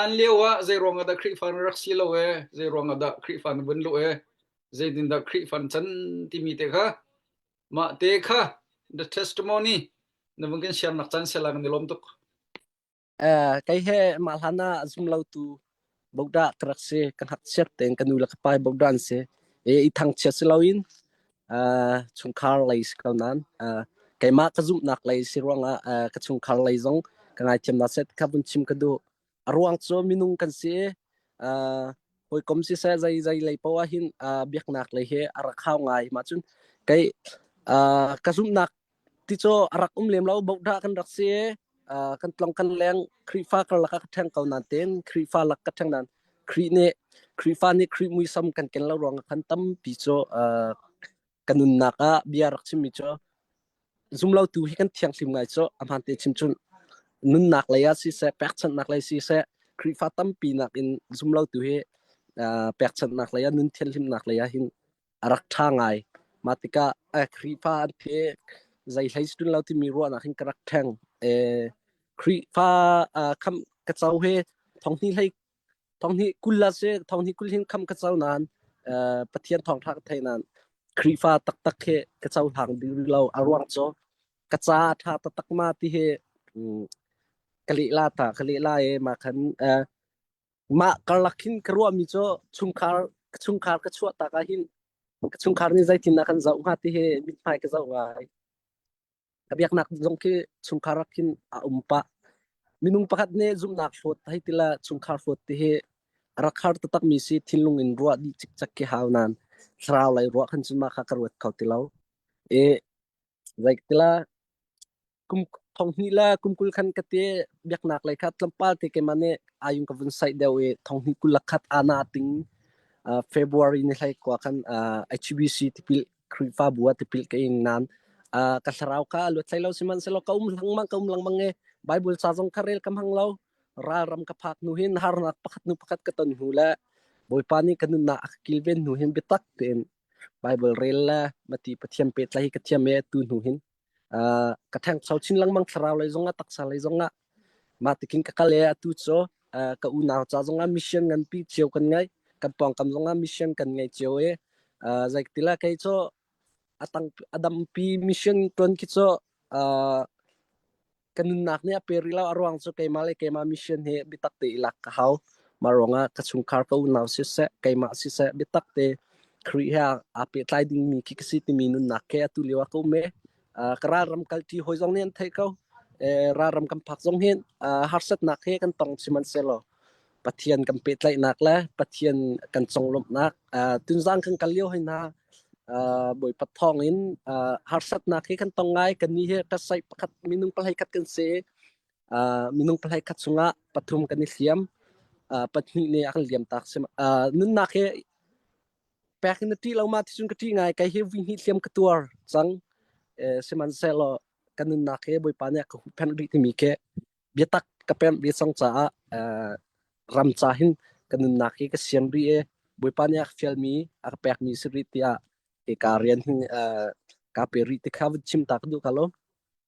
Hlan lio ah zeiruang ah dah Khrihfa na rak si lo e, zeiruang ah dah Khrihfa na vun lu e, zeitin dah Khrihfa na chan timi te kha mah te kha the testimony na vung kan share nak chan se lang ni lom tuk eh kai he ma hlana zum lo tu bokda krak se kan hat siat ten kanu la ka pai bokdan se e i thang chia se loin uh, chungkhar lei si ko nan uh, keimah ka zumhnak lei si ruangah uh, ka chungkhar lei zong ka ngaithiamnak set kha vun chim ka du a ruang cu minung kan si uh, hawikom si se zai zai lei pawa hin uh, biaknak lei he a rak hau ngai ma cun kai uh, ka zumhnak Ticaw a rak um lem lo. Bohdah kan rak si. Uh, kan tlong kan leng Khrihfa karlak ah ka ṭheng ko nain tein Khrihfa lak ka ṭheng nain Khrih nih Khrihfa nih Khrih muisam kan ken lo ruang ah khan tampi cu uh, kan nunnak ah bia rak chimmi cu zumlotu hi kan thianghlim ngai cu a hmaan te chimchun nunnak lei ah siseh pekchanhnak lei siseh Khrihfa tampi nak in zumlotu hi uh, pekchanhnak lei ah nun thianhlimnak lei ah hin a rak ṭha ngai. Mah tikah eh, Khrihfa an pek zei hlei si ṭun lo timi ruahnak hin ka rak ṭheng. Eh, Khrihfa uh, kham ka co he thonghni hlei thonghni kul la si thonghni kul hin kham ka co nain uh, Pathian thawngṭha ka thei nain Khrihfa taktak he ka co hlang ding rih lo. A ruang cu ka ca a ṭha taktak ma ti he um, ka lehla ta ka lehla e ma khan uh, Mah karlak hin ka ruahmi cu chungkhar chungkhar ka chuah tak ah hin ka chungkhar nih zeitindah kan zoh hnga ti hi mithmai ka zoh ngai. Ka biaknak zong khi chungkhar ah khin a um pah. Minung pakhat nih zumhnak hlawt hei tila chungkhar hlawt ti hi a rak har taktakmi si thinlung in ruah dih cikcek khi hau nan. Thlarau lei ruah khan cu mah kha ka ruat kho ti lo. I Zeiktilah kum thonghnih la kum kul khan ka te biaknak lei kha tlawmpal te keimah nih ayung ka vun saih deuh i thonghnih kul lakhat ana ting uh, February ni hlai kwa khan uh, HBC tipil Khrihfabu a tipil ka ing nan uh, ka thlarau ka luat hlai lo siman selo ka um lang mang ka um lang mang e Bible sa zong ka rel kam hang lo raram ka phak nu hin harnak pakhat nu pakhat ka ton hnu le boipa ni kanun na akilven nu hin bitak ten Bible rel le mati Pathian pehtlaih hi ka thiam e tu hnu hin uh, ka theng sau chin lengmang thlarau lei zong ah taksa lei zong ah mah tikin ka kal e atu cho uh, ka unau cha zong ah mission ngan pi chiao kan ngai kan pongkam zong ah mission kan ngai chiao e uh, zaik tila kai cho atang adam pi mission tuan khi cho uh, ka nunnak nih a pe rih lo a ruang cu keimah le keimah mission hi biatak te i lak ka hau mah ruangah ka chungkhar ka unau siseh keimah siseh biatak te Khrih he aa pehtlai dingmi khi ka si timi nunnak ke atu lio ah ka um e uh, ka ralram kalṭi hoi zong nih an theih ko e, ralram kan phak zong hin uh, harsatnak he kan tong si man selaw Pathian kan pehtlaihnak le Pathian kan conglawmhnak uh, tunzang kan kal lio hina uh, bawipat thawng in uh, harsatnak hi kan tong ngai kan ni hi ka sai pakhat minung palai khat kan se uh, minung palai khat sunga pathum kan i hliam uh, patni ne akan liam tak sem uh, nunnak he pek na ti lo ma ti sun ka ti ngai kai hi vi ni hliam ka tuar chang eh, siman selo kanun nak he boipa ne ka pen ri ti mi ke biatak ka pemh ve cang caah uh, ram ca hin ka nunnak hi ka siang rih e bawipa nih a fialmi a ka pekmi si rih tiah ke ka rian hi uh, ka pe rih ti kha va chim ta ka duh ka lo